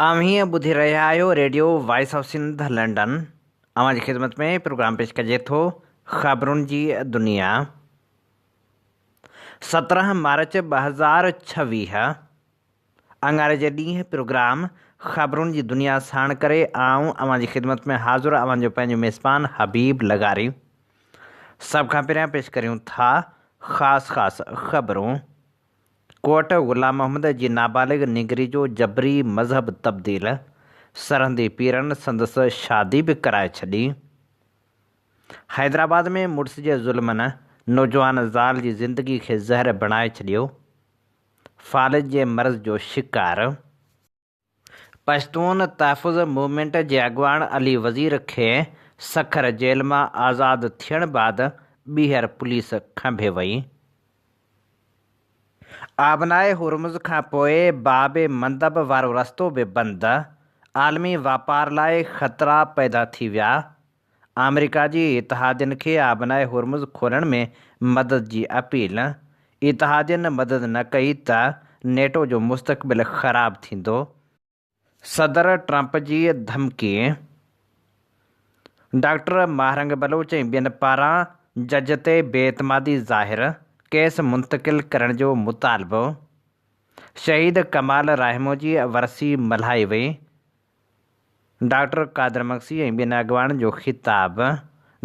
اوهين ٻڌي رهيا آهيو radio voice of Sindh London اوهان جي خدمت ۾ پروگرام پيش ڪجي ٿو خبرن جي دنيا سترهن مارچ ٻه هزار ڇويهه اڱاري جي ڏينهن پروگرام خبرن جي دنيا ساڻ ڪري آئون اوهان جي خدمت ۾ حاضر اوهان جو پنهنجو ميزبان حبيب لغاري سڀ کان پهريان پيش ڪريون ٿا خاص خاص خبرون ڪوئٽه، غلام محمد جي نابالغ نينگري جو جبري مذهب تبديل، سرهندي پيرن سندس شادي به ڪرائي ڇڏي. حيدرآباد ۾ مڙس جي ظلمن نوجوان زال جي زندگي کي زهر بڻائي ڇڏيو. فالج جي مرض جو شڪار. پشتون تحفظ موومينٽ جي اڳواڻ علي وزير کي سکر جيل مان آزاد ٿيڻ بعد ٻيهر پوليس کنڀي وئي. آبناء هرمز کان پوء باب مندب وارو رستو به بند، عالمي واپار لاء خطرا پيدا ٿي ويا. آمريڪا جي اتحادين کي آبناء هرمز کولڻ ۾ مدد جي اپيل، اتحادين مدد نه ڪئي ته نيٽو جو مستقبل خراب ٿيندو، صدر ٽرمپ جي ڌمڪي، ڊاڪٽر ماهرنگ بلوچ ۽ ٻين پاران جج تي بي اعتمادي ظاهر، ڪيس منتقل ڪرڻ جو مطالبو، شهيد ڪمال راهمو جي ورسي ملهائي وئي، ڊاڪٽر قادر مگسي ۽ ٻين اڳواڻن جو خطاب،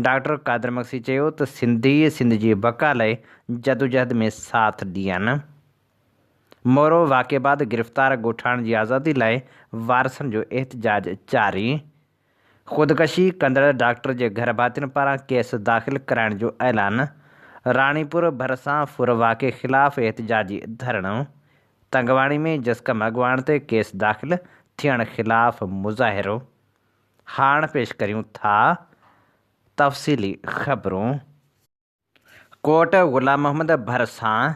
ڊاڪٽر قادر مگسي چيو ته سنڌي سنڌ جي بقا لئه جدوجهد ۾ ساٿ ڏين، مورو واقعي بعد گرفتار ڳوٺاڻن جي آزادي لاء وارثن جو احتجاج جاري، خودڪشي ڪندڙ ڊاڪٽر جي گهر ڀاتين پاران ڪيس داخل ڪرائڻ جو اعلان، راڻيپور ڀرسان ڦر واقعي خلاف احتجاجي ڌرڻو، تنگواڻي ۾ جسقم اڳواڻ تي ڪيس داخل ٿيڻ خلاف مظاهرو، هاڻ پيش ڪريون ٿا تفصيلي خبرون. ڪوٽ غلام محمد ڀرسان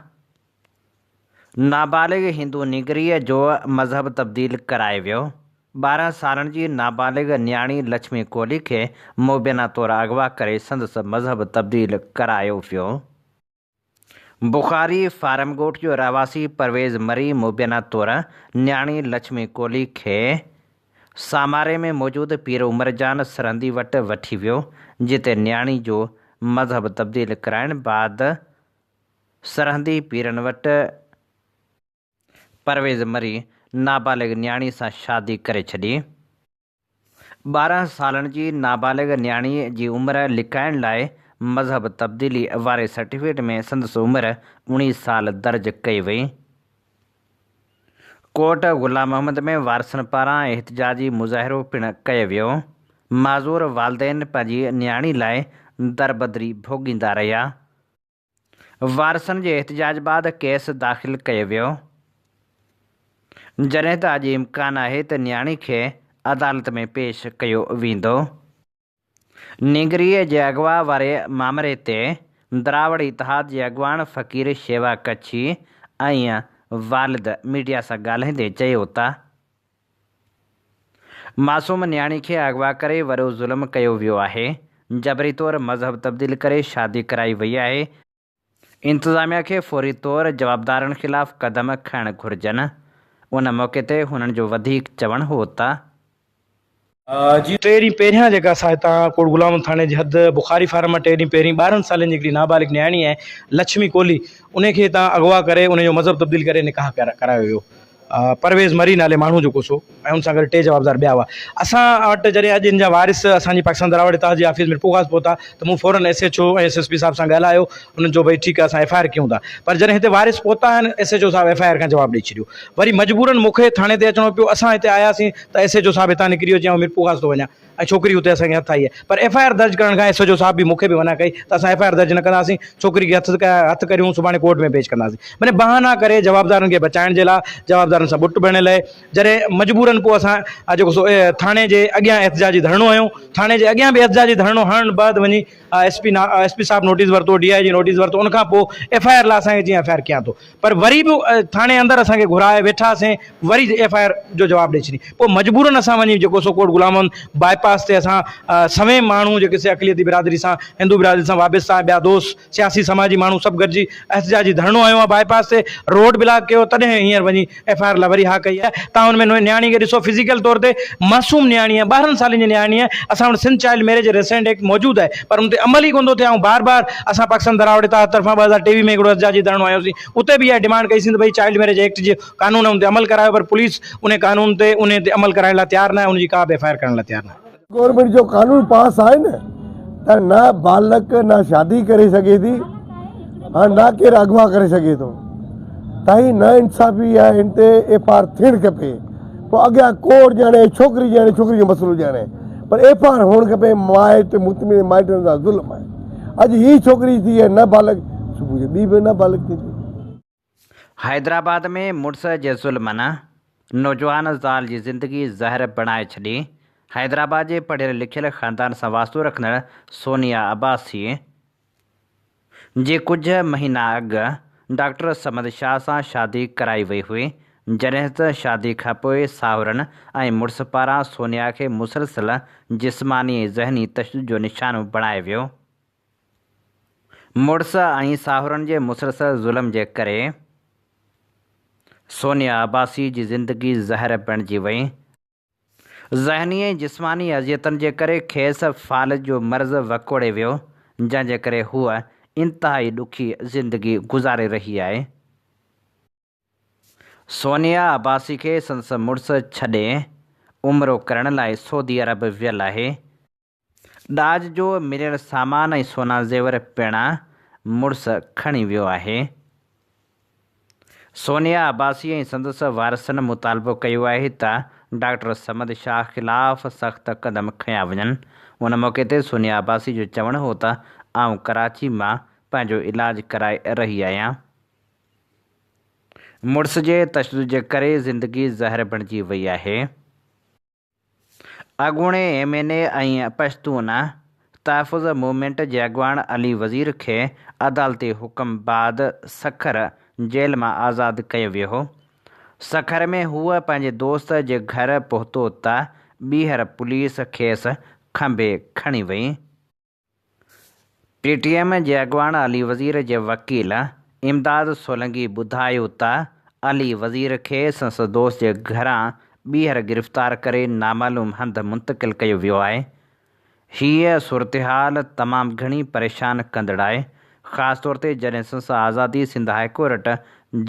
نابالغ هندو نينگريء جو مذهب تبديل ڪرائي ويو، ٻارهن سالن جي نابالغ نياڻي لڇمي ڪولهي کي مبينا طور اغوا ڪري سندس مذهب تبديل ڪرايو ويو. بخاري فارمڳوٺ جو رهواسي پرويز مري مبينا طور نياڻي لڇمي ڪولهي کي ساماري ۾ موجود پير عمرجان سرهندي وٽ وٺي ويو، جتي نياڻي جو مذهب تبديل ڪرائڻ بعد سرهندي پيرن وٽ پرويز مري نابالغ نياڻي سان شادي ڪري ڇڏي. ٻارهن سالن جي نابالغ نياڻي جي عمر لڪائڻ لاء مذهب تبديلي واري سرٽيفڪيٽ ۾ سندس عمر اڻيهه سال درج ڪئي وئي. ڪوٽ غلام محمد ۾ وارثن پاران احتجاجي مظاهرو پڻ ڪيو ويو. معذور والدين پنهنجي نياڻي لاء دربدري ڀوڳيندا رهيا. وارثن جي احتجاج بعد ڪيس داخل ڪيو ويو، جڏهن ته اڄ امڪان آهي ته نياڻي کي عدالت ۾ پيش ڪيو ويندو. نينگريء جي اغوا واري مامري تي دراوڙ اتحاد جي اڳواڻ فقير شيوا ڪڇي ۽ والد ميڊيا سان ڳالهائيندي چيو ته معصوم نياڻي کي اغوا ڪري وڏو ظلم ڪيو ويو آهي، جبري طور مذهب تبديل ڪري شادي ڪرائي وئي آهي، انتظاميا کي فوري طور جوابدارن خلاف قدم کڻڻ گهرجن، ان موقعي تي هنن جو وڌيڪ چوڻ هو ته. جي ٽي ڏينهن پهريان جيڪا ساهتان ڪوٽ غلام محمد ٿاڻي جي حد بخاري فارم مان ٽي ڏينهن پهرين ٻارهن سالن جي هڪڙي نابالغ نياڻي آهي لڇمي ڪولهي انهي کي هتان اغوا ڪري انهي جو مذهب تبديل ڪري نڪاح ڪرايو ويو پرويز مري نالي ماڻهو جو ڪوسو ۽ ان سان گڏ ٽي جوابدار ٻيا هئا اسان وٽ جڏهن اڄ ان جا وارث اسان جي پاڪستان دراوڙ اتحاد جي آفيس ميرپورخاص پهتا ته مون فورن S H O ۽ S S P صاحب سان ڳالهايو انهن چيو ڀئي ٺيڪ آهي اسان ايف آء آر ڪيون ٿا پر جڏهن هتي وارث پهتا آهن ايس ايڇ او صاحب ايف آء آر کان جواب ڏئي ڇڏيو وري مجبورن مون کي ٿاڻي تي اچڻو پيو اسان هتي آياسين ته ايس ايڇ او صاحب هتان نڪري ويو چيائون ميرپورخاص ٿو وڃان ۽ ڇوڪري اتي اسان کي هٿ آئي آهي پر ايف آء آر درج ڪرڻ کان ايس ايڇ او صاحب به مون کي به منع ڪئي ته اسان ايف آء آر درج نه ڪنداسين ڇوڪري کي هٿ هٿ ڪريون سڀاڻي ڪورٽ ۾ پيش ڪنداسين معني بهانا ڪري جوابدارن کي بچائڻ جي لاء جوابدارن سان ٻٽ ڀڻيل اهي جڏهن مجبورن پوء اسان آ جيڪو سو ٿاڻي جي اڳيان احتجاجي ڌرڻو هنيو ٿاڻي جي اڳيان به احتجاجي ڌرڻو هڻڻ بعد وڃي ايس پي ايس پي صاحب نوٽيس ورتو ڊي آء جي نوٽيس ورتو ان کان پوء ايف آء آر لاء اسان کي چيائين ايف آء آر ڪيان ٿو پر وري به ٿاڻي اندر اسان کي گهرائي ويٺا سين وري ايف آء آر جو جواب ڏئي ڇڏي پوء مجبورن اسان وڃي جيڪو سو ڪوٽ غلام محمد باء پاس تي اسان سوين ماڻهو جيڪي سي اقليتي برادري سان هندو برادري سان وابسته آهن ٻيا دوست سياسي سماجي ماڻهو سڀ گڏجي احتجاجي ڌرڻو هنيو آهي باء پاس تي روڊ بلاڪ ڪيو تڏهن هينئر وڃي ايف آء آر لاء وري ها ڪئي آهي تان ان ۾ نياڻي کي ڏسو فزيڪل طور تي معصوم نياڻي آهي ٻارهن سالن جي نياڻي آهي اسان وٽ Sindh child marriage restraint act موجود آهي پر ان تي عمل ئي ڪونه ٿو ٿئي آئون بار بار اسان پاڪستان ڌراوڙ اتحاد طرفان ٻه هزار ٽيويهه ۾ هڪڙو احتجاجي ڌرڻو هنيو سين اتي به اها ڊمانڊ ڪئي سين ته ڀئي چائلڊ ميريج ايڪٽ جي قانون آهي ان تي عمل ڪرايو پر پوليس ان قانون تي ان تي عمل ڪرائڻ لاء تيار ناهي ان جي ڪا به ايف آء آر ڪرڻ لاء تيار ناهي. گورنمينٽ جو قانون پاس آهي نه ته نه ٻالڪ نه شادي ڪري سگهي ٿي ۽ نه ڪير اغوا ڪري سگهي ٿو تائين نه انصافي آهي ان تي ايف آء آر ٿيڻ کپي. پوء اڳيان ڪوڙ ڄاڻي ڇوڪري ڄاڻي ڇوڪري جو مسئلو ڄاڻي پر ايف آر هئڻ کپي مائٽ مطمئن مائٽن سان ظلم آهي اڄ هي ڇوڪري ٿي هي نه بالغ صبح جو ٻي به نه بالغ ٿيندي. حيدرآباد ۾ مڙس جي ظلمن نوجوان زال جي زندگي زهر بڻائي ڇڏي، حيدرآباد جي پڙهيل لکيل خاندان سان واسطو رکندڙ سونيا عباسي، جي ڪجهه مهينا اڳ ڊاڪٽر صمد شاهه سان شادي ڪرائي وئي هئي، جڏهن ته شادي کانپوء ساهرن ۽ مڙس پاران سونيا کي مسلسل جسماني ۽ ذهني تشدد جو نشانو بڻايو ويو. مڙس ۽ ساهرن جي مسلسل ظلم جي ڪري سونيا عباسي جي زندگي زهر بڻجي وئي ۽ ذهني ۽ جسماني اذيتن جي ڪري کيس فالج جو مرض وڪوڙي ويو، جنهن جي ڪري هوء انتهائي ڏکي زندگي گذاري رهي آهي. سونيا عباسي کي سندس مڙس ڇڏي عمرو ڪرڻ لاء سعودي عرب ويل آهي. ڏاج جو مليل سامان ۽ سونا زيور پڻ مڙس کڻي ويو آهي. سونيا عباسي ۽ سندس وارثن مطالبو ڪيو آهي ته ڊاڪٽر صمد شاهه خلاف سخت قدم کنيا وڃن. ان موقعي تي سونيا عباسي جو چوڻ هو ته آئون ڪراچي مان پنهنجو علاج ڪرائي رهي آهيان. مڙس جي تشدد جي ڪري زندگي زهر بڻجي وئي آهي. اڳوڻي M N A ۽ Pashtun Tahafuz Movement جي اڳواڻ علي وزير کي عدالتي حڪم بعد سکر جيل مان آزاد ڪيو ويو هو. سکر ۾ هو پنهنجي دوست جي گهر پهتو ته ٻيهر پوليس کيس کنڀي کڻي وئي. پي ٽي ايم جي اڳواڻ علي وزير جي وڪيل امداد سولنگي ٻڌايو ته علي وزير کي سنسد دوست جي گهران ٻيهر گرفتار ڪري نامعلوم هنڌ منتقل ڪيو ويو آهي. هيء صورتحال تمام گهڻي پريشان ڪندڙ آهي، خاص طور تي جڏهن سنسد آزادي سنڌ هاء ڪورٽ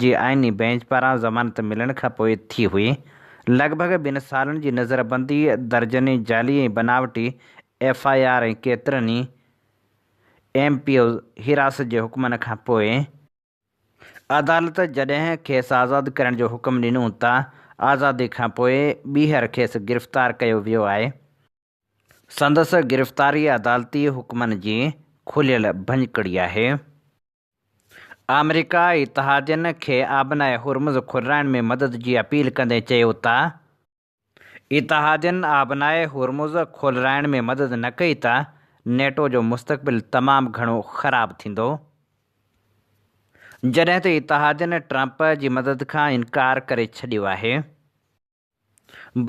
جي آئيني بئنچ پاران ضمانت ملڻ کان پوء ٿي هئي. لڳ ڀڳ ٻن سالن جي نظربندي، درجنين جعلي ۽ بناوٽي ايف آء آر ۽ ڪيترن ئي ايم پي اوز حراست جي حڪمن کان پوء عدالت جڏهن کيس آزاد ڪرڻ جو حڪم ڏنو ته آزادي کان پوء ٻيهر کيس گرفتار ڪيو ويو آهي. سندس گرفتاري عدالتي حڪمن جي کليل ڀڃڪڙي آهي. آمريڪا اتحادين کي آبناء هرمز کولرائڻ ۾ مدد جي اپيل ڪندي چيو ته اتحادين آبناء هرمز کولرائڻ ۾ مدد نه ڪئي ته نيٽو جو مستقبل تمام گهڻو خراب ٿيندو. جڏهن ته اتحادين ٽرمپ جي مدد کان انڪار ڪري ڇڏيو آهي.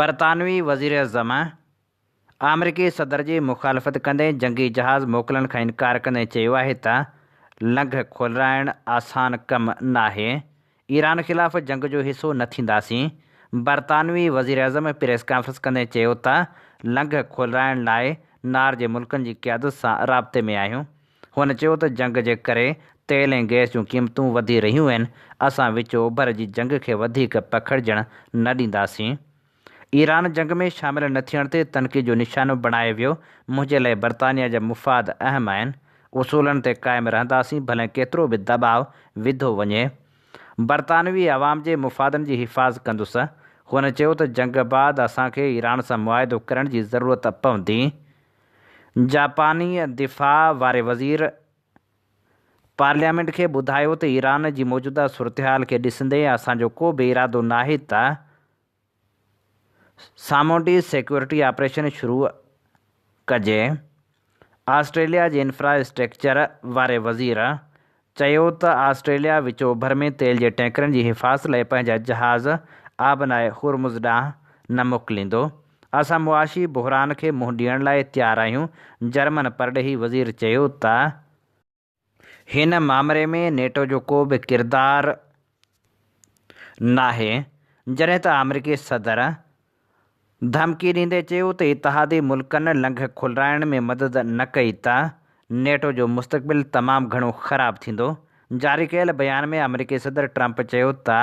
برطانوي وزيراعظم آمريڪي صدر جي مخالفت ڪندي جنگي جهاز موڪلڻ کان انڪار ڪندي چيو آهي ته لنگهه کولرائڻ آسان ڪم ناهي، ايران خلاف جنگ جو حصو نه ٿينداسين. برطانوي وزيراعظم پريس ڪانفرنس ڪندي چيو ته لنگهه کولرائڻ لاء نار جي ملڪن جي قيادت سان رابطي ۾ آهيون. هن چيو ته جنگ جي ڪري تيل ۽ گئس جون قيمتون وڌي رهيون آهن، اسان وچ اوڀر جي جنگ کي وڌيڪ پکڙجڻ نه ڏينداسين. ايران جنگ ۾ شامل نه ٿيڻ تي تنقيد جو نشانو بڻايو ويو، منهنجي لاء برطانيا جا مفاد اهم آهن، اصولن تي قائم رهنداسين ڀلين ڪيترو به دٻاء وڌو وڃي، برطانوي عوام جي مفادن جي حفاظ ڪندس. هن چيو ته جنگ بعد اسان کي ايران سان معاهدو ڪرڻ جي ضرورت پوندي. جاپاني دفاع واري وزير پارليامينٽ کي ٻڌايو ته ايران جي موجوده صورتحال کي ڏسندي اسان جو ڪو به ارادو ناهي ته، سامونڊي سيڪيورٽي آپريشن شروع ڪجي، آسٽريليا جي انفراسٽرڪچر واري وزير چيو ته آسٽريليا وچوڀر ۾ تيل جي ٽينڪرن جي حفاظت لاء پنهنجا جهاز آبناء هرمز ڏانهن نه موڪليندو، اسان معاشي بحران کي منهن ڏيڻ لاء تيار آهيون، جرمن پرڏيهي وزير چيو ته. هن مامري ۾ نيٽو جو ڪو به ڪردار ناهي، جڏهن ته آمريڪي صدر ڌمڪي ڏيندي چيو ته اتحادي ملڪن لنگهه کولرائڻ ۾ مدد نه ڪئي ته نيٽو جو مستقبل تمام گهڻو خراب ٿيندو، جاري ڪيل بيان ۾ آمريڪي صدر ٽرمپ چيو ته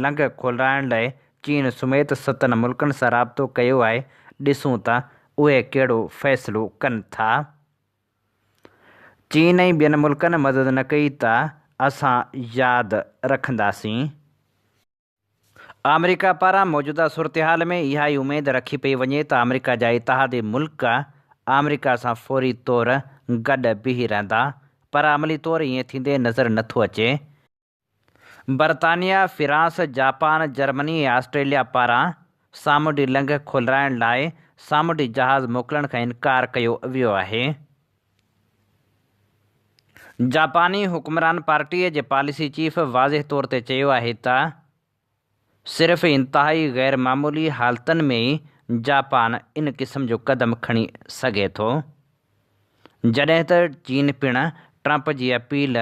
لنگهه کولرائڻ لاء چين سميت ستن ملڪن سان رابطو ڪيو آهي، ڏسون ته اهي ڪهڙو فيصلو ڪن ٿا. چين ۽ ٻين ملڪن مدد نه ڪئي ته اسان ياد رکنداسين. آمريڪا پاران موجوده صورتحال ۾ اها ئي اميد رکي پئي وڃي ته آمريڪا جا اتحادي ملڪ آمريڪا سان فوري طور گڏ بيهي رهندا پر عملي طور ائين ٿيندي نظر نٿو اچي. برطانيا، فرانس، جاپان، جرمني ۽ آسٽريليا پاران سامونڊي لنگهه کولرائڻ لاء سامونڊي جهاز موڪلڻ کان انڪار ڪيو ويو آهي. جاپاني حڪمران پارٽيء جي پاليسي چيف واضح طور تي چيو آهي ته، صرف انتهائي غير معمولي حالتن ۾ ئي جاپان ان قسم جو قدم کڻي سگهي ٿو، جڏهن ته چين پڻ ٽرمپ جي اپيل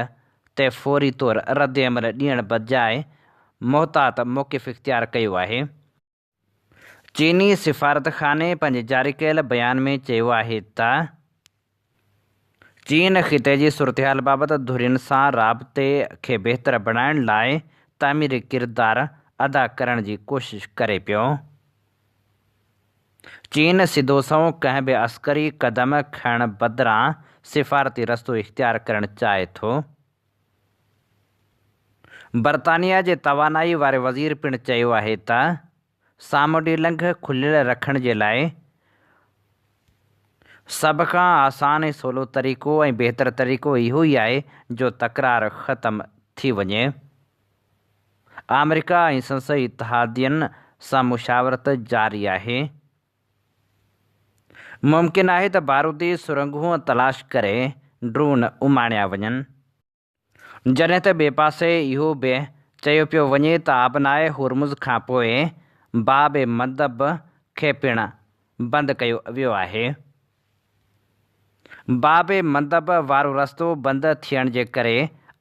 تي فوري طور ردعمل ڏيڻ بدجاء محتاط موقف اختيار ڪيو آهي. چيني سفارتخاني پنهنجي جاري ڪيل بيان ۾ چيو آهي ته چين خطي جي صورتحال بابت ڌرين سان رابطي کي بهتر بڻائڻ لاء تعميري ڪردار ادا ڪرڻ جي ڪوشش ڪري پيو. چين سڌو سنئون ڪنهن به عسڪري قدم کڻڻ بدران سفارتي رستو اختيار ڪرڻ چاهي ٿو، برطانيا جي توانائي واري وزير پڻ چيو آهي ته سامونڊي لنگهه کليل رکڻ جي لاء سڀ کان آسان ۽ سولو طريقو ۽ بهتر طريقو اهو ئي آهي جو تڪرار ختم ٿي وڃي ۽ آمريڪا ۽ سندس اتحادين سان مشاورت جاري آهي ممڪن آهي ته بارودي سرنگهون تلاش ڪري ڊرون اماڻيا وڃن. جڏهن ته ٻئي پاسي اهو به چيو پيو وڃي ته آبناء هورمز کانپوء باب مندب کي پڻ بند ڪيو ويو آهي. باب مندب وارو رستو بند ٿيڻ جي ڪري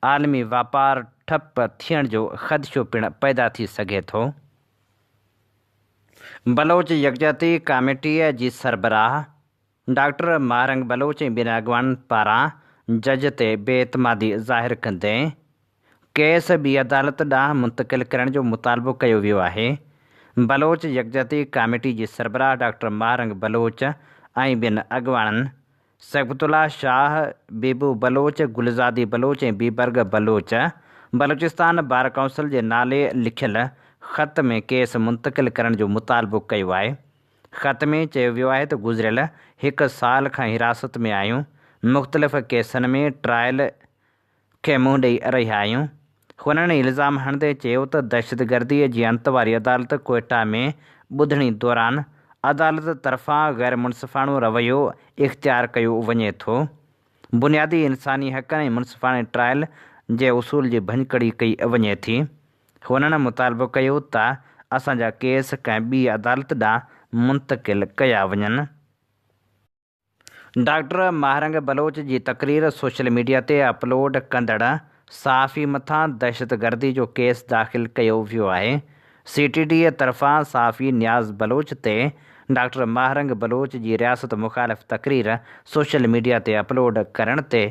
عالمي واپار ٺپ ٿيڻ جو خدشو پڻ پيدا ٿي سگهي ٿو. بلوچ يڪجهتي ڪاميٽيء جي سربراهه ڊاڪٽر ماهرنگ بلوچ ۽ ٻين اڳواڻن پاران جج تي بي اعتمادي ظاهر ڪندي، ڪيس ٻي عدالت ڏانهن منتقل ڪرڻ جو مطالبو ڪيو ويو آهي. بلوچ يڪجهتي ڪاميٽي جي سربراهه ڊاڪٽر ماهه رنگ بلوچ ۽ ٻين اڳواڻن صبغت الله شاهه، بيبو بلوچ، گلزادي بلوچ ۽ بيبرگ بلوچ بلوچستان بار ڪائونسل جي نالي لکيل خط ۾ ڪيس منتقل ڪرڻ جو مطالبو ڪيو آهي. خط ۾ چيو ويو آهي ته گذريل هڪ سال کان حراست ۾ آهيون، مختلف ڪيسن ۾ ٽرائل، کي منهن ڏئي رهيا آهيون. هن الزام هڻندي چيو ته دهشتگردي جي انت واري عدالت ڪوئيٽا ۾ ٻڌڻي دوران عدالت طرفان غيرمنصفاڻو رويو اختيار ڪيو وڃي ٿو، بنيادي انساني حقن ۽ منصفاڻي ٽرائل جي اصول جي ڀڃڪڙي ڪئي وڃي ٿي. هنن مطالبو ڪيو ته اسان جا ڪيس ڪنهن ٻي عدالت ڏانهن منتقل ڪيا وڃن. ڊاڪٽر ماهرنگ بلوچ جي تقرير سوشل ميڊيا تي اپلوڊ ڪندڙ صحافي مٿان دهشتگردي جو ڪيس داخل ڪيو ويو آهي، سي ٽي ڊي طرفان صحافي نياز بلوچ تي ڊاڪٽر ماهرنگ بلوچ جي رياست مخالف تقرير سوشل ميڊيا تي اپلوڊ ڪرڻ تي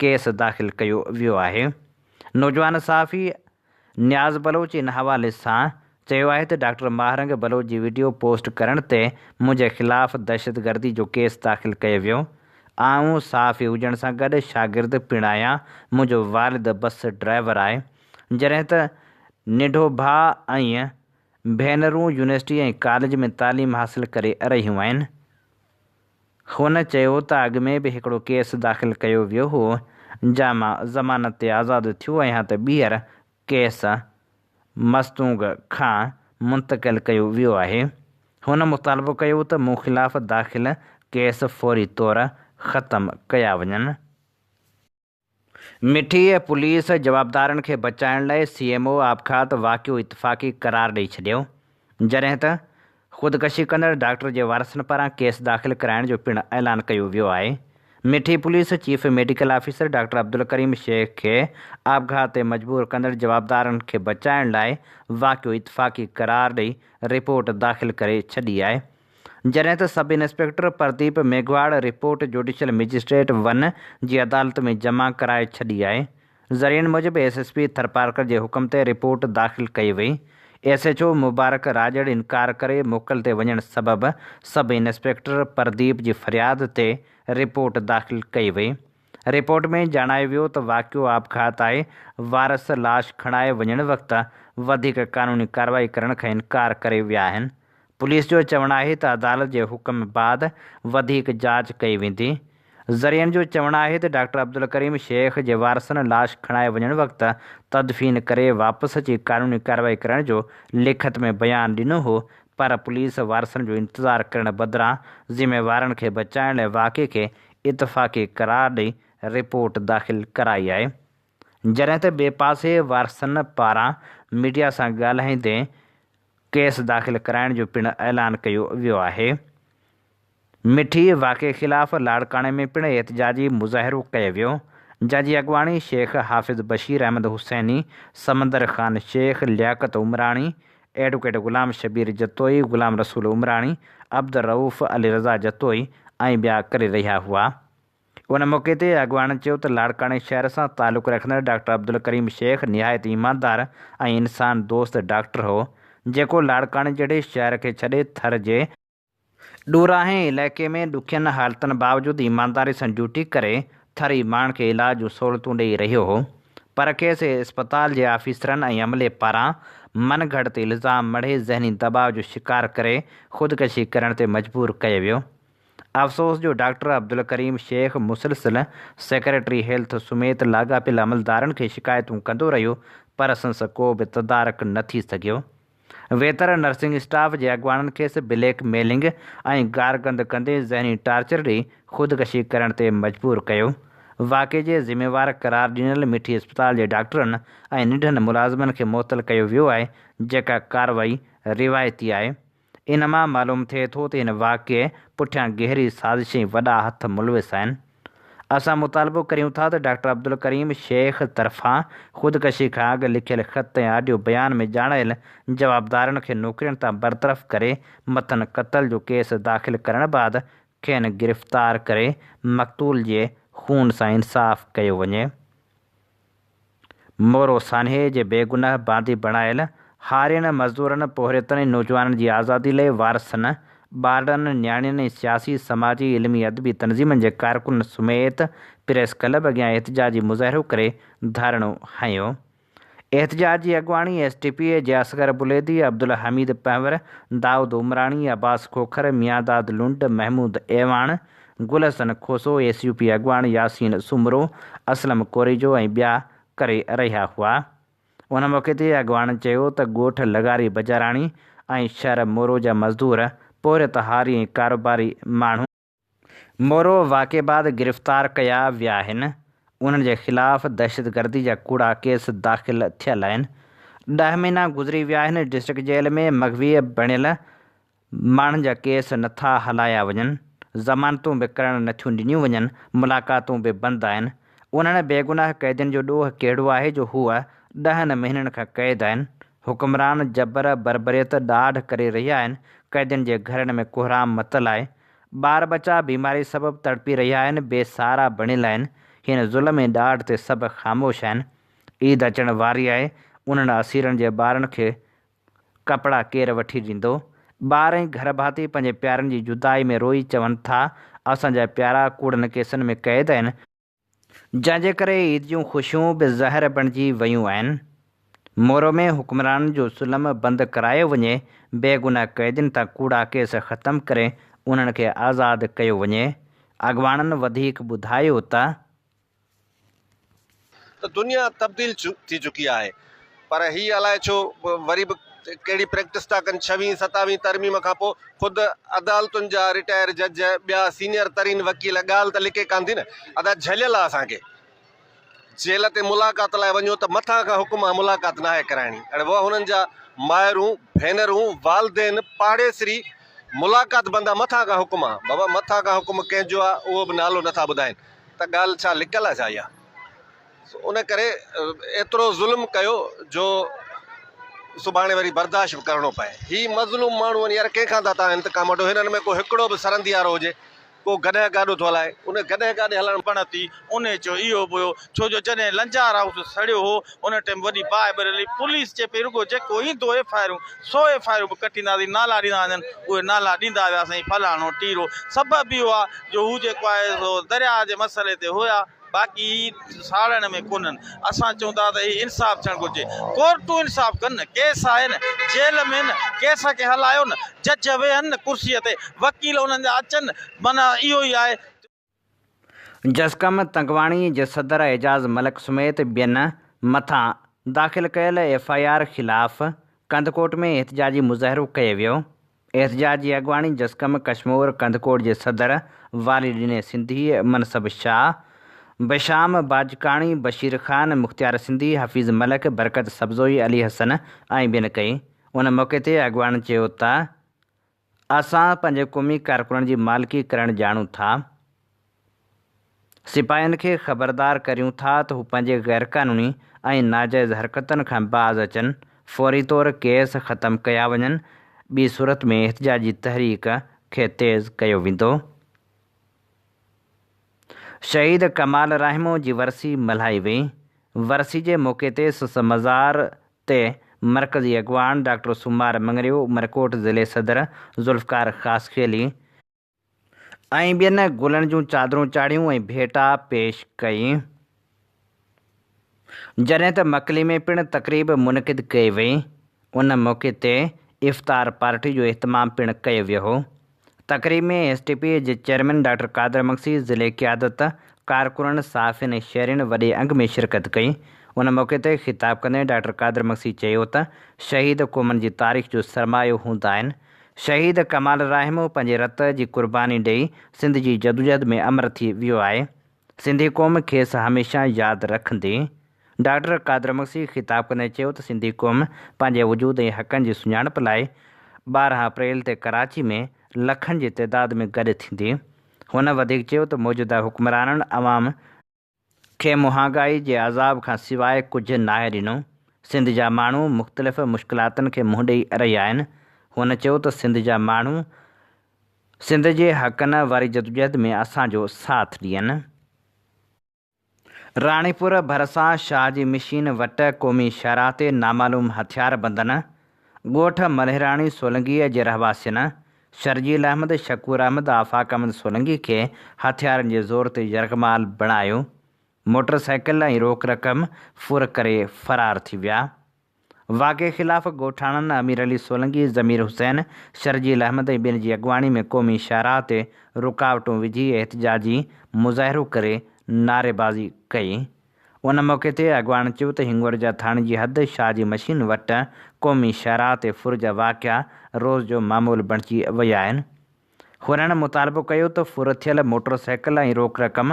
ڪيس داخل ڪيو ويو آهي، نوجوان صحافي نياز بلوچ ان حوالي سان چيو آهي ته ڊاڪٽر ماهه رنگ بلوچ جي وڊيو پوسٽ ڪرڻ تي منهنجي خلاف دهشتگردي جو ڪيس داخل ڪيو ويو، آئون صحافي هجڻ سان گڏ شاگرد پڻ آهيان، منهنجو والد بس ڊرائيور آهي، جڏهن ته ننڍو ڀاء ۽ ڀينرون يونيورسٽي ۽ ڪاليج ۾ تعليم حاصل ڪري رهيون آهن. هن چيو ته اڳ ۾ به هڪڙو ڪيس داخل ڪيو ويو هو، جنهن مان ضمانت تي آزاد ٿيو آهيان ته ٻيهر ڪيس مصدوق کان منتقل ڪيو ويو آهي. هن مطالبو ڪيو ته مون خلاف داخل ڪيس فوري طور ختم ڪيا وڃن. مٺي ۽ پوليس جوابدارن کي بچائڻ لاء سي ايم او آپگهات واقعو اتفاقي قرار ڏئي ڇڏيو جڏهن ته خودڪشي ڪندڙ ڊاڪٽر جي وارثن پاران ڪيس داخل ڪرائڻ جو پڻ اعلان ڪيو ويو آهي Mithi police chief medical officer doctor Abdulkarim Shaikh کي آپگهات تي مجبور ڪندڙ جوابدارن کي بچائڻ لاء واقعو اتفاقي قرار ڏئي رپورٽ داخل ڪري ڇڏي آهي جڏهن ته sub inspector Pradeep Meghwar report judicial magistrate one جي عدالت ۾ جمع ڪرائي ڇڏي آهي. ذريعن موجب ايس ايس پي ٿرپارڪر جي حڪم تي رپورٽ داخل ڪئي وئي. S H O Mubarak Rajar انڪار ڪري موڪل تي وڃڻ سبب سب انسپيڪٽر پرديپ جي فرياد تي رپورٽ داخل ڪئي وئي. رپورٽ ۾ ڄاڻايو ويو ته واقعو آپگهات آهي، وارث لاش کڻائي وڃڻ وقت وڌيڪ قانوني ڪارروائي ڪرڻ کان انڪار ڪري ويا آهن، پوليس جو چوڻ آهي ته عدالت جي حڪم بعد وڌيڪ جاچ ڪئي ويندي، ذريعن جو چوڻ آهي ته ڊاڪٽر عبدالڪريم شيخ جي وارثن لاش کڻائي وڃڻ وقت تدفين ڪري واپس اچي قانوني ڪارروائي ڪرڻ جو لکت ۾ بيان ڏنو هو پر پوليس وارثن جو انتظار ڪرڻ بدران ذميوارن کي بچائڻ لاء واقعي کي اتفاقي قرار ڏئي رپورٽ داخل ڪرائي آهي جڏهن ته ٻئي پاسي وارثن پاران ميڊيا سان ڳالهائيندي ڪيس داخل ڪرائڻ جو پڻ اعلان ڪيو ويو آهي مٺي واقعي خلاف لاڙڪاڻي ۾ پڻ احتجاجي مظاهرو ڪيو ويو جنهن جي اڳواڻي شيخ حافظ بشير احمد حسيني سمندر خان شيخ لياقت عمراڻي ايڊووڪيٽ غلام شبير جتوئي، غلام رسول عمراڻي، عبدالرئوف، علي رضا جتوئي ۽ ٻيا ڪري رهيا هئا. ان موقعي تي اڳواڻن چيو ته لاڙڪاڻي شهر سان تعلق رکندڙ ڊاڪٽر عبدالڪريم شيخ نهايت ايماندار ۽ انسان دوست ڊاڪٽر هو، جيڪو لاڙڪاڻي جهڙي شهر کي ڇڏي ٿر جي ڏوراهين علائقي ۾ ڏکين حالتن باوجود ايمانداري سان ڊيوٽي ڪري ٿري ماڻهن کي علاج جون سهولتون ڏئي رهيو هو پر کيس اسپتال جي آفيسرن ۽ عملي پاران من گهڙت الزام مڙهي ذهني دٻاء جو شڪار ڪري خودڪشي ڪرڻ تي مجبور ڪيو ويو افسوس جو ڊاڪٽر عبدالڪريم شيخ مسلسل سيڪريٽري هيلٿ سميت لاڳاپيل عملدارن کي شڪايتون ڪندو رهيو پر سنس ڪو به تدارڪ نه ٿي سگهيو. ويتر نرسنگ اسٽاف جي اڳواڻن کيس بليڪ ميلنگ ۽ گارگند ڪندي ذهني ٽارچر ڏئي خودڪشي ڪرڻ تي مجبور ڪيو. واقعي جي ذميوار قرار ڏنل مٺي اسپتال جي ڊاڪٽرن ۽ ننڍن ملازمن کي معطل ڪيو ويو آهي جيڪا ڪارروائي روايتي آهي. ان مان معلوم ٿئي ٿو ته هن واقعي پٺيان گهري سازش ۽ وڏا هٿ ملوث آهن. اسان مطالبو ڪريون ٿا ته ڊاڪٽر عبدالڪريم شيخ طرفان خودڪشي کان اڳ لکيل خط ۽ آڊيو بيان ۾ ڄاڻايل جوابدارن کي نوڪرين تان برطرف ڪري مٿن قتل جو ڪيس داخل ڪرڻ بعد کين گرفتار ڪري مقتول جي خون سان انصاف ڪيو وڃي. مورو سانحي جي بيگناهه باندي بڻايل هارين، مزدورن، پورهيتن ۽ نوجوانن جي آزادي لئي وارثن، ٻارڙن، نياڻين ۽ سياسي، سماجي، علمي، ادبي تنظيمن جي ڪارڪنن سميت پريس ڪلب اڳيان احتجاجي مظاهرو ڪري ڌرڻو هنيو. احتجاج جي اڳواڻي ايس ٽي پي اي جي Asghar Buledi, Abdulhameed Panhwar, Daud Umrani, Abbas Khokhar, Miandad Lund, Mehmood Awan, Gul Hassan Khoso, S U P اڳواڻ ياسين سومرو، اسلم ڪوريجو ۽ ٻيا ڪري رهيا هئا. ان موقعي تي اڳواڻن چيو ته ڳوٺ لغاري بجاراڻي ۽ شهر مورو جا مزدور، پورهيت هاري ۽ ڪاروباري ماڻهو، مورو واقعي بعد گرفتار ڪيا ويا آهن، انهن جي خلاف دهشتگردي جا ڪوڙا ڪيس داخل ٿيل آهن، ڏهه مهينا گذري ويا آهن، ڊسٽرڪٽ جيل ۾ مغوي بڻيل ماڻهن جا ڪيس نه ٿا هلايا وڃن، ضمانتون به ڪرڻ نه ٿيون ڏنيون وڃن، ملاقاتون به بند آهن، انهن بيگناهه قيدين جو ڏوهه ڪهڙو آهي جو هو ڏهن مهينن کان قيد آهن، حڪمران جبر بربريت ڏاڍ ڪري رهيا آهن، قيدين جي گهرن ۾ ڪوهرام متل آهي، ٻار ٻچا بيماري سبب تڙپي رهيا آهن، بي سهارا بڻيل آهن، هن ظلم ۽ ڏاڍ تي سڀ خاموش آهن، عيد اچڻ واري آهي، انهن اسيرن جي ٻارن کي ڪپڙا ڪير وٺي ڏيندو؟ ٻار ۽ گهر ڀاتي پنهنجي پيارن جي جدائي ۾ روئي چون ٿا، اسان جا پيارا ڪوڙن ڪيسن ۾ قيد آهن، جنهن جي ڪري عيد جون خوشيون به زهر بڻجي ويون آهن، مورو ۾ حڪمرانن جو ظلم بند ڪرايو وڃي، بيگناهه قيدين تان ڪوڙا ڪيس ختم ڪري انهن کي آزاد ڪيو وڃي، اڳواڻن وڌيڪ ٻڌايو ته. ته دنيا تبديل ٿي چڪي آهي پر هي الاء ڇو وري به ڪهڙي پريڪٽس ٿا ڪن ڇوين ستاوين ترميم کان پوء خود عدالتن جا رٽائر جج ٻيا سينئر ترين وڪيل ڳالهه ته لڪي ڪانه ٿي نه ادا جهليل آ اسان کي جيل تي ملاقات لاء وڃو ته مٿان کان حڪم آ ملاقات ناهي ڪرائڻي اڙي وئا هنن جا مائرون ڀينرون والدين پاڙيسري ملاقات بند آ مٿان کان حڪم آ بابا مٿان کان حڪم ڪنهن جو آ اهو به نالو نٿا ٻڌائين ته ڳالهه ڇا لڪل آ ڇا اها؟ سو ان ڪري ايترو ظلم ڪيو جو سڀاڻي وري برداشت به ڪرڻو پئي. هي مظلوم ماڻهو آهن يار ڪنهن کان ٿا تان انتقام وٺو هنن ۾ ڪو هڪڙو به سرنديارو هجي ڪو گڏهه گاڏو ٿو هلائي ان گڏهه گاڏي هلائڻ بڻتي ان جو اهو به هو ڇو جو جڏهن لنجارائوت سڙيو هو ان ٽيم وڏي باهه به رلي، پوليس چئي پئي رڳو جيڪو ايندو F I آرون so F I آرون به ڪٽينداسين، نالا ڏيندا وڃن اهي نالا ڏيندا ويا سائين فلاڻو ٽيرو، سبب به اهو آ جو هو جيڪو آهي سو درياء جي مسئلي تي هيا باقي هي ساڙڻ ۾ ڪونهن، اسان چئون ٿا ته هي انصاف ٿيڻ گهرجي، ڪورٽون انصاف ڪن نه، ڪيس آهي نه، جيل ۾ نه، ڪيس کي هلايو نه، جج ويهن نه ڪرسيء تي، وڪيل انهن جا اچن، معنيٰ اهو ئي آهي جو. جسقم تنگواڻي جي صدر اعجاز ملڪ سميت ٻين مٿان داخل ڪيل ايف آء آر خلاف ڪنڌڪوٽ ۾ احتجاجي مظاهرو ڪيو ويو، احتجاج جي اڳواڻي جسقم ڪشمور ڪنڌڪوٽ جي صدر والي ڏني سنڌي، منصب شاهه، بشام باجڪاڻي، بشير خان، مختيار سنڌي، حفيظ ملڪ، برڪت سبزوئي، علي حسن ۽ ٻين ڪئي، ان موقعي تي اڳواڻن چيو ته اسان پنهنجي قومي ڪارڪنن جي مالڪي ڪرڻ ڄاڻون ٿا، سپاهين کي خبردار ڪريون ٿا ته هو پنهنجي غيرقانوني ۽ ناجائز حرڪتن کان باز اچن، فوري طور ڪيس ختم ڪيا وڃن، ٻي صورت ۾ احتجاجي تحريڪ کي تيز ڪيو ويندو. شهيد ڪمال راهمون جي ورسي ملهائي وئي، ورسي جي موقعي تي سس مزار تي مرڪزي اڳواڻ ڊاڪٽر سومار مڱريو، عمرڪوٽ ضلعي صدر ذوالفقار خاصخيلي، ۽ ٻين گلن جون چادرون چاڙهيون ۽ ڀيٽا پيش ڪئي. جڏهن ته مڪلي ۾ پڻ تقريب منعقد ڪئي وئي. ان موقعي تي افطار پارٽي جو اهتمام پڻ ڪيو ويو هو. تقريب ۾ ايس ٽي پي جي چيئرمين ڊاڪٽر قادر مگسي، ضلعي قيادت، ڪارڪنن، صحافين ۽ شهرين وڏي انگ ۾ شرڪت ڪئي. ان موقعي تي خطاب ڪندي ڊاڪٽر قادر مگسي چيو ته شهيد قومن جي تاريخ جو سرمايو هوندا آهن. شهيد ڪمال الرحيم پنهنجي رت جي قرباني ڏئي سنڌ جي جدوجهد ۾ امر ٿي ويو آهي. سنڌي قوم کيس هميشه ياد رکندي. ڊاڪٽر قادر مگسي خطاب ڪندي چيو ته سنڌي قوم پنهنجي وجود ۽ حقن جي سڃاڻپ لاء ٻارهن اپريل تي ڪراچي ۾ لکن جي تعداد ۾ گڏ ٿيندي. هن وڌيڪ چيو ته موجوده حڪمرانن عوام کي مهانگائي جي عذاب کان سواء ڪجهه ناهي ڏنو، سنڌ جا ماڻهو مختلف مشڪلاتن کي منهن ڏئي رهيا آهن. هن چيو ته سنڌ جا ماڻهو سنڌ جي حقن واري جدوجهد ۾ اسان جو ساٿ ڏين. راڻيپور ڀرسان شاهه جي مشين وٽ قومي شاهراهه تي نامعلوم هٿياربندن ڳوٺ ملهراڻي سولنگيء جي رهواسين شرجيل احمد، شڪور احمد، آفاق احمد سولنگي کي هٿيارن جي زور تي يرغمال بڻايو، موٽر سائيڪل ۽ روڪ رقم ڦر ڪري فرار ٿي ويا. واقعي خلاف ڳوٺاڻن امير علي سولنگي، ضمير حسين، شرجيل احمد ۽ ٻين جي اڳواڻي ۾ قومي شاهراهه تي رڪاوٽون وجهي احتجاجي مظاهرو ڪري نعريبازي ڪئي. ان موقعي تي اڳواڻن چيو ته هنڱورجا ٿاڻي جي حد شاهه جي مشين وٽ قومي شاهراهه تي ڦر جا واقعا روز جو معمول بڻجي ويا آهن. هنن مطالبو ڪيو ته ڦرٿيل موٽرسائيڪل ۽ روڪ رقم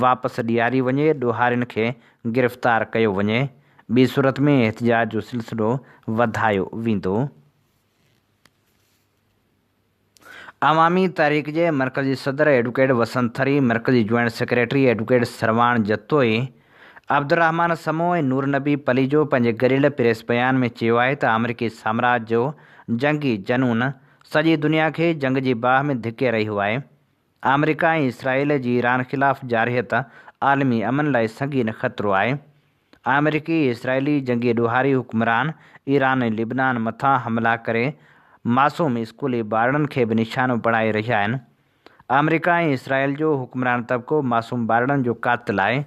واپس ڏياري وڃي، ڏوهارين کي گرفتار ڪيو وڃي، ٻي صورت ۾ احتجاج جو سلسلو وڌايو ويندو. عوامي تحريڪ جي مرڪزي صدر ايڊوڪيٽ وسنت ٿري، مرڪزي joint secretary advocate Sarwan Jatoi, Abdulrehman Samoon ۽ Noor Nabi Palijo پنهنجي گڏيل پريس بيان ۾ چيو آهي ته آمريڪي سامراج جو جنگي جنون، سڄي دنيا کي جنگ جي باهه ۾ ڌڪي رهي هئائي. آمريڪا ۽ اسرائيل جي ايران خلاف جارحيت عالمي امن لاء سنگين خطرو آهي. آمريڪي ۽ اسرائيلي جنگي ڏوهاري حڪمران ايران ۽ لبنان مٿان حملا ڪري معصوم اسڪولي ٻارڙن کي به نشانو بڻائي رهيا آهن. آمريڪا ۽ اسرائيل جو حڪمران طبقو معصوم ٻارڙن جو قاتل آهي.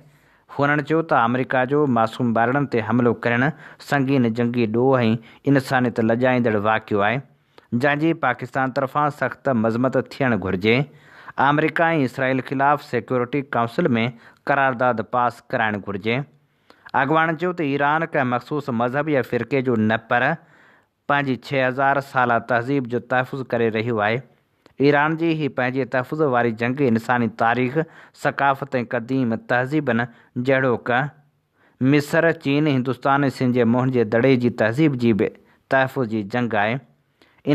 هونئن چيو ته آمريڪا جو معصوم ٻارڙن تي حملو ڪرڻ سنگين جنگي ڏوهه ۽ انسانيت لڄائيندڙ واقعو آهي، جنهن جي پاڪستان طرفان سخت مذمت ٿيڻ گهرجي. آمريڪا ۽ اسرائيل خلاف سيڪيورٽي ڪائونسل ۾ قرارداد پاس ڪرائڻ گهرجي. اڳواڻن چيو ته ايران ڪنهن مخصوص مذهب يا فرقي جو نه پر پنهنجي ڇهه هزار سالا تهذيب جو تحفظ ڪري رهيو آهي. ايران جي هي پنهنجي تحفظ واري جنگ انساني تاريخ، ثقافت ۽ قديم تهذيبن جهڙوڪ، مصر، چين، هندستان ۽ سنڌ جي موهن جي دڙي جي تهذيب جي به تحفظ جي جنگ آهي.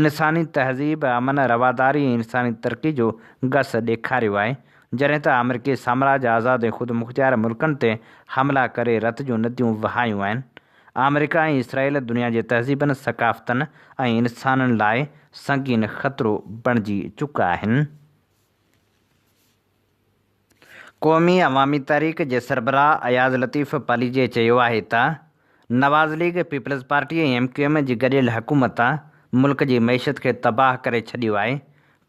انساني تهذيب امن، رواداري ۽ انساني ترقي جو گس ڏيکاريو آهي، جڏهن ته آمريڪي سامراج آزاد ۽ خودمختيار ملڪن تي حملا ڪري رت جون نديون وهايون آهن. آمريڪا ۽ اسرائيل دنيا جي تهذيبن، ثقافتن ۽ انسانن لاء سنگين خطرو بڻجي چڪا آهن. قومي عوامي تحريڪ جي سربراهه اياز لطيف پاليجي چيو آهي ته Nawaz league, Peoples Party ۽ M Q M جي گڏيل حڪومت ملڪ جي معيشت کي تباهه ڪري ڇڏيو آهي،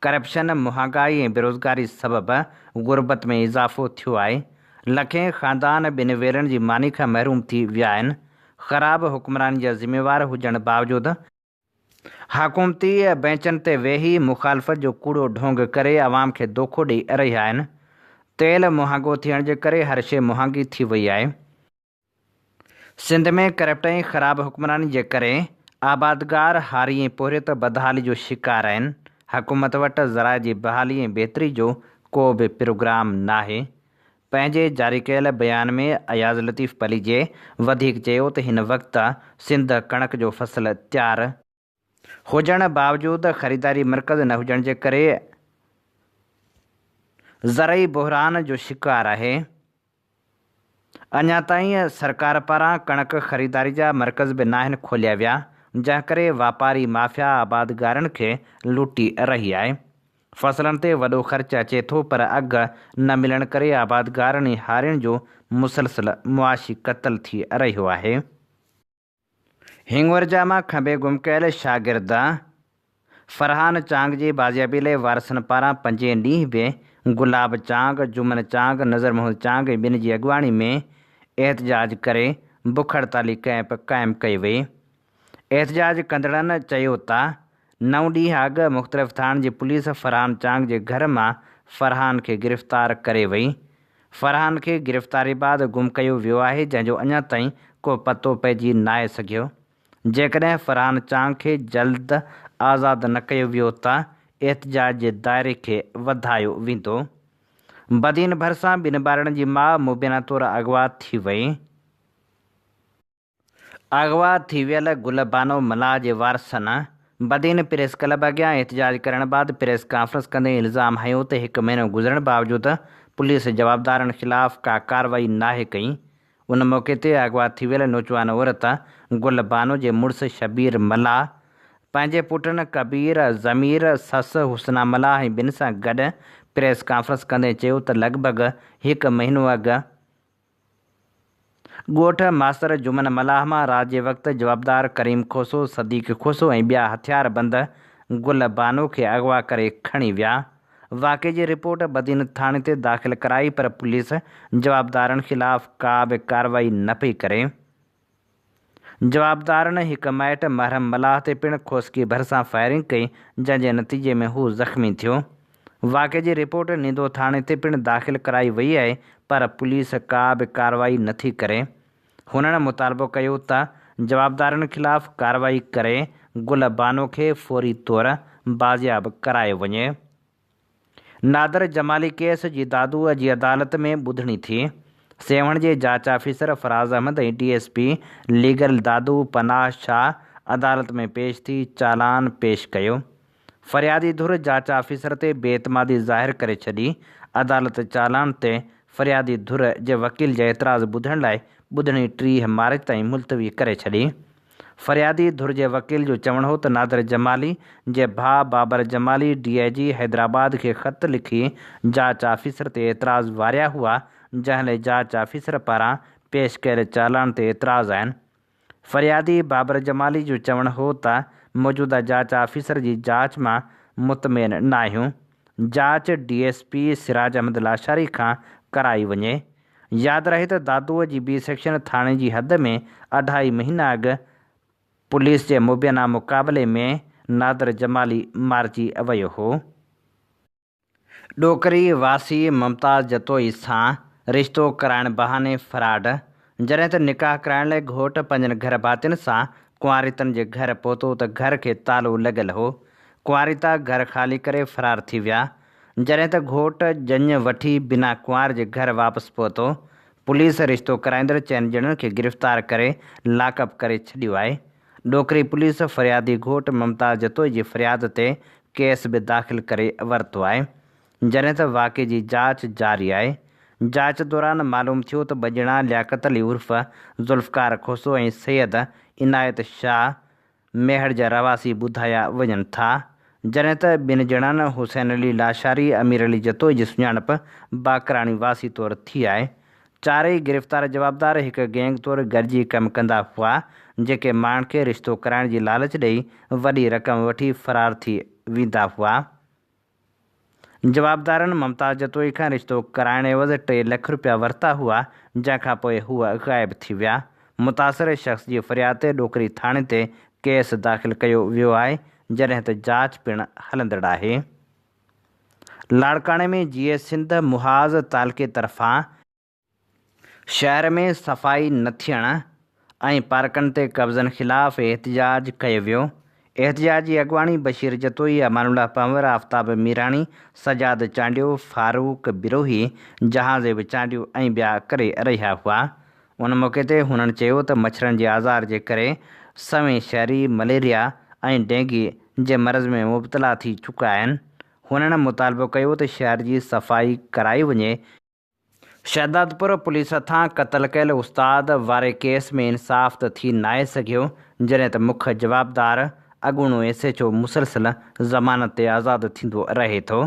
ڪرپشن، مهانگائي ۽ بيروزگاري سبب غربت ۾ اضافو ٿيو آهي، لکين خاندان ٻن ويلن جي ماني کان محروم ٿي ويا آهن، خراب حڪمراني جا ذميوار هجڻ باوجود، حڪومتي بئنچن تي ويهي مخالفت جو ڪوڙو ڍونگ ڪري عوام کي دوکو ڏئي رهيا آهن، تيل مهانگو ٿيڻ جي ڪري هر شيء مهانگي ٿي وئي آهي، سنڌ ۾ ڪرپٽ ۽ خراب حڪمراني جي ڪري آبادگار هاري ۽ پورهيت بدحالي جو شڪار آهن، حڪومت وٽ زراعي جي بحالي ۽ بهتري جو ڪو به پروگرام ناهي. پنهنجي جاري ڪيل بيان ۾ اياز لطيف پليجي وڌيڪ چيو ته هن وقت سنڌ ڪڻڪ جو فصل تيار، هجڻ باوجود خريداري مرڪز نه هجڻ جي ڪري زرعي بحران جو شڪار آهي، اڃا تائين سرڪار پاران ڪڻڪ خريداري جا مرڪز به ناهن کوليا ويا، جنهن ڪري واپاري مافيا آبادگارن کي لٽي رهي آهي، فصلن تي وڏو خرچ اچي ٿو پر اگهه نه ملڻ ڪري آبادگارن ۽ هارين جو مسلسل معاشي قتل ٿي رهيو آهي. هينگورجا مان کنڀي گم ڪيل شاگرد فرحان چانگ جي بازيابي لاء وارثن پاران پنجين ڏينهن به گلاب چانگ، جمن چانگ، نظر محمد چانگ ۽ ٻين جي اڳواڻي ۾ احتجاج ڪري بک هڙتالي ڪئمپ قائم ڪئي وئي. احتجاج ڪندڙن چيو ته نو ڏينهن اڳ مختلف ٿاڻن جي پوليس فرحان چانگ جي گهر مان فرحان کي گرفتار ڪري وئي. فرحان کي گرفتاري بعد گم ڪيو ويو آهي جنهن جو اڃا تائين ڪو پتو پئجي ناهي سگهيو. جيڪڏهن فرحان چانگ کي جلد آزاد نه ڪيو ويو ته احتجاج جي دائري کي وڌايو ويندو. بدين ڀرسان ٻن ٻارڙن جي ماء مبينا طور اغوا ٿي وئي. اغوا ٿي ويل گل بانو ملاح جي وارثن بدين پريس ڪلب اڳيان احتجاج ڪرڻ بعد پريس ڪانفرنس ڪندي الزام هنيو ته هڪ مهينو گذرڻ باوجود پوليس جوابدارن خلاف ڪا ڪارروائي ناهي ڪئي ان موقعي تي اغوا ٿي ويل نوجوان عورت گل بانو جي مڙس شبير ملاح پنهنجي پٽن ڪبير، ضمير، سس حسنا ملاح ۽ ٻين سان گڏ پريس ڪانفرنس ڪندي چيو ته لڳ ڀڳ هڪ مهينو اڳ ڳوٺ ماستر جمن ملاح مان رات جي وقت جوابدار ڪريم کوسو، صديق کوسو ۽ ٻيا هٿياربند گل بانو کي اغوا ڪري کڻي ويا. واقعي جي رپورٽ بدين ٿاڻي تي داخل ڪرائي پر پوليس جوابدارن خلاف ڪا به ڪارروائي نه پئي ڪري. جوابدارن هڪ مائٽ محرم ملاح تي پڻ کوسڪي ڀرسان فائرنگ ڪئي، جنهن جي نتيجي ۾ هو زخمي ٿيو. واقعي جي رپورٽ نيدو ٿاڻي تي پڻ داخل ڪرائي وئي آهي پر پوليس ڪا به ڪارروائي نٿي ڪري. هنن مطالبو ڪيو ته جوابدارن خلاف ڪارروائي ڪري گل بانو کي فوري طور بازياب ڪرايو وڃي. نادر جمالي ڪيس جي دادوء جي عدالت ۾ ٻڌڻي ٿي، سيوهڻ جي جاچ officer Faraz Ahmed ۽ D S P legal Dadu Panah Shah عدالت ۾ پيش ٿي چالان پيش ڪيو، فريادي ڌر جاچ آفيسر تي بي اعتمادي ظاهر ڪري ڇڏي، عدالت چالان تي فريادي ڌر جي وڪيل جي اعتراض ٻڌڻ لاء ٻڌڻي ٽيهه مارچ تائين ملتوي ڪري ڇڏي. فريادي ڌر جي وڪيل جو چوڻ هو ته نادر جمالي جي ڀاء بابر جمالي ڊي آء جي حيدرآباد کي خط لکي جاچ آفيسر تي اعتراض واريا هئا جنهن لئه جاچ آفيسر پاران پيش ڪيل چالان تي اعتراض آهن. فريادي بابر جمالي جو چوڻ هو ته موجوده جاچ آفيسر جي جاچ مان مطمئن ناهيون جاچ D S P Siraj Ahmed Lashari کان ڪرائي وڃي ياد رهي ته دادوء جي بي سيڪشن ٿاڻي جي حد ۾ اڍائي مهينا اڳ پوليس جي مبينا مقابلي ۾ نادر جمالي مارجي ويو هو. ڏوڪري واسي ممتاز جتوئي سان رشتو ڪرائڻ بهاني فراڊ، جڏهن ته نڪاح ڪرائڻ لاء گهوٽ پنهنجن گهر ڀاتين سان ڪنواريتن جي گهر پهتو ته گهر کي تالو لڳل هو، ڪنواريتا گهر خالي ڪري فرار ٿي ويا، جڏهن ته گهوٽ ڄڃ وٺي بنا ڪنوار جي گهر واپس پهتو، پوليس رشتو ڪرائيندڙ چئن ڄڻن کي گرفتار ڪري لاڪ اپ ڪري ڇڏيو آهي. ڏوڪري پوليس فريادي گهوٽ ممتاز جتوئي جي فرياد تي ڪيس به داخل ڪري ورتو آهي، جڏهن ته واقعي جي جاچ جاري آهي. جاچ دوران معلوم ٿيو ته ٻه ڄڻا لياقت علي عرف ذوالفقار کوسو ۽ سيد عنايت شاهه ميهڙ جا رهواسي ٻڌايا وڃن ٿا. جڏهن ته ٻن ڄڻن حسين علي لاشاري، امير علي جتوئي جي سڃاڻپ باقراڻي واسي طور ٿي آهي. چارئي گرفتار جوابدار هڪ گينگ طور گڏجي ڪم ڪندا هئا، جيڪي ماڻهن کي رشتو ڪرائڻ جي لالچ ڏئي وڏي رقم وٺي فرار ٿي ويندا هئا. جوابدارن ممتاز جتوئي کان رشتو ڪرائڻ عيوض ٽي لک رپيا ورتا هئا، جنهن کان پوء هو غائب ٿي ويا. متاثر شخص جي فرياد تي ڏوڪري ٿاڻي تي ڪيس داخل ڪيو ويو آهي، جڏهن ته جاچ پڻ هلندڙ آهي. لاڙڪاڻي ۾ جيئي سنڌ محاذ تعلقي طرفان، شهر ۾ صفائي نه ٿيڻ ۽ پارڪن تي قبضن خلاف احتجاج ڪيو ويو، احتجاج جي اڳواڻي بشير جتوئي، امان الله پنهور، آفتاب ميراڻي، سجاد چانڊيو، فاروق بروهي، جهانزيب چانڊيو ۽ ٻيا ڪري رهيا هئا، ان موقعي تي هنن چيو ته مڇرن جي آزار جي ڪري سوين شهري مليريا ۽ ڊينگي جي مرض ۾ مبتلا ٿي چڪا آهن، هنن مطالبو ڪيو ته شهر جي صفائي ڪرائي وڃي، شهدادپور پوليس هٿان قتل ڪيل استاد واري ڪيس ۾ انصاف ته ٿي ناهي سگهيو جڏهن ته مک جوابدار اڳوڻو ايس ايڇ او مسلسل ضمانت تي آزاد ٿيندو رهي ٿو.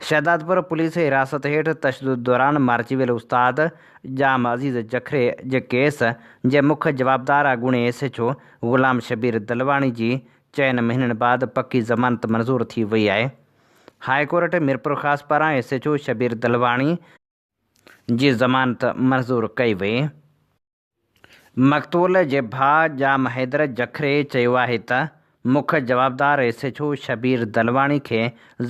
شهدادپور پوليس حراست هيٺ تشدد دوران مارجي ويل استاد ڄام عزيز جکري جي ڪيس جي مک جوابدار اڳوڻي S H O Ghulam Shabbir Dalwani جي چئن مهينن بعد پڪي ضمانت منظور ٿي وئي آهي. هاء ڪورٽ ميرپورخاص پاران S H O Shabbir Dalwani جي ضمانت منظور ڪئي وئي. مقتول جي ڀاء ڄام حيدر جکري چيو آهي ته مک جوابدار S H O Shabbir Dalwani کي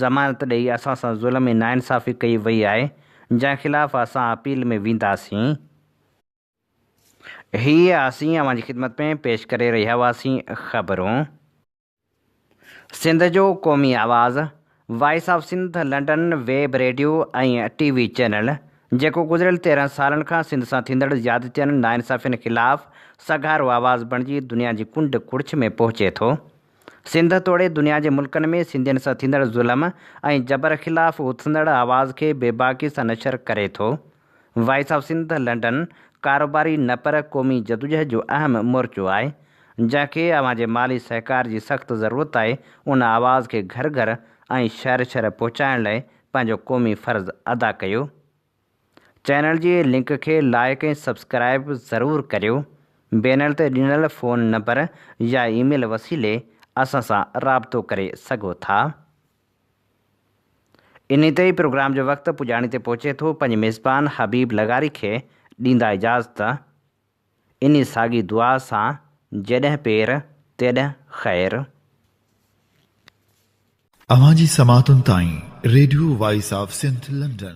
ضمانت ڏئي اسان سان ظلم ۽ ناانصافي ڪئي وئي آهي جنهن خلاف اسان اپيل ۾ وينداسين. هيء اسين اوهان جي خدمت ۾ پيش ڪري رهيا هئاسين. خبرون. سنڌ جو قومي آواز، voice of Sindh London, web radio ۽ T V channel, جيڪو گذريل تيرهن سالن کان سنڌ سان ٿيندڙ زيادتين، ناانصافين خلاف سگهارو آواز بڻجي دنيا جي ڪنڊ ڪڙڇ ۾ پهچي ٿو. سنڌ توڙي دنيا جي ملڪن ۾ سنڌين سان ٿيندڙ ظلم ۽ جبر خلاف اٿندڙ آواز کي بي باڪي سان نشر ڪري ٿو. وائس آف سنڌ لنڊن ڪاروباري نه پر قومي جدوجهد جو اهم مورچو آهي جنهن کي اوهان جي مالي سهڪار جي سخت ضرورت آهي ان آواز کي گهر گهر ۽ شهر شهر پهچائڻ لئي پنهنجو قومي فرض ادا ڪيو چينل جي لنڪ کي لائيڪ ۽ سبسڪرائيب ضرور ڪريو بينر تي ڏنل فون نمبر يا ايميل وسيلي اسان سان رابطو ڪري سگهو ٿا. انهي تي ئي پروگرام جو وقت پڄاڻي تي پهچي ٿو، پنهنجي ميزبان حبيب لغاري کي ڏيندا اجازت، انهي ساڳي دعا سان جيڏهن پير تيڏهن خير. اوهان جي سماعتن تائين radio voice of Sindh London.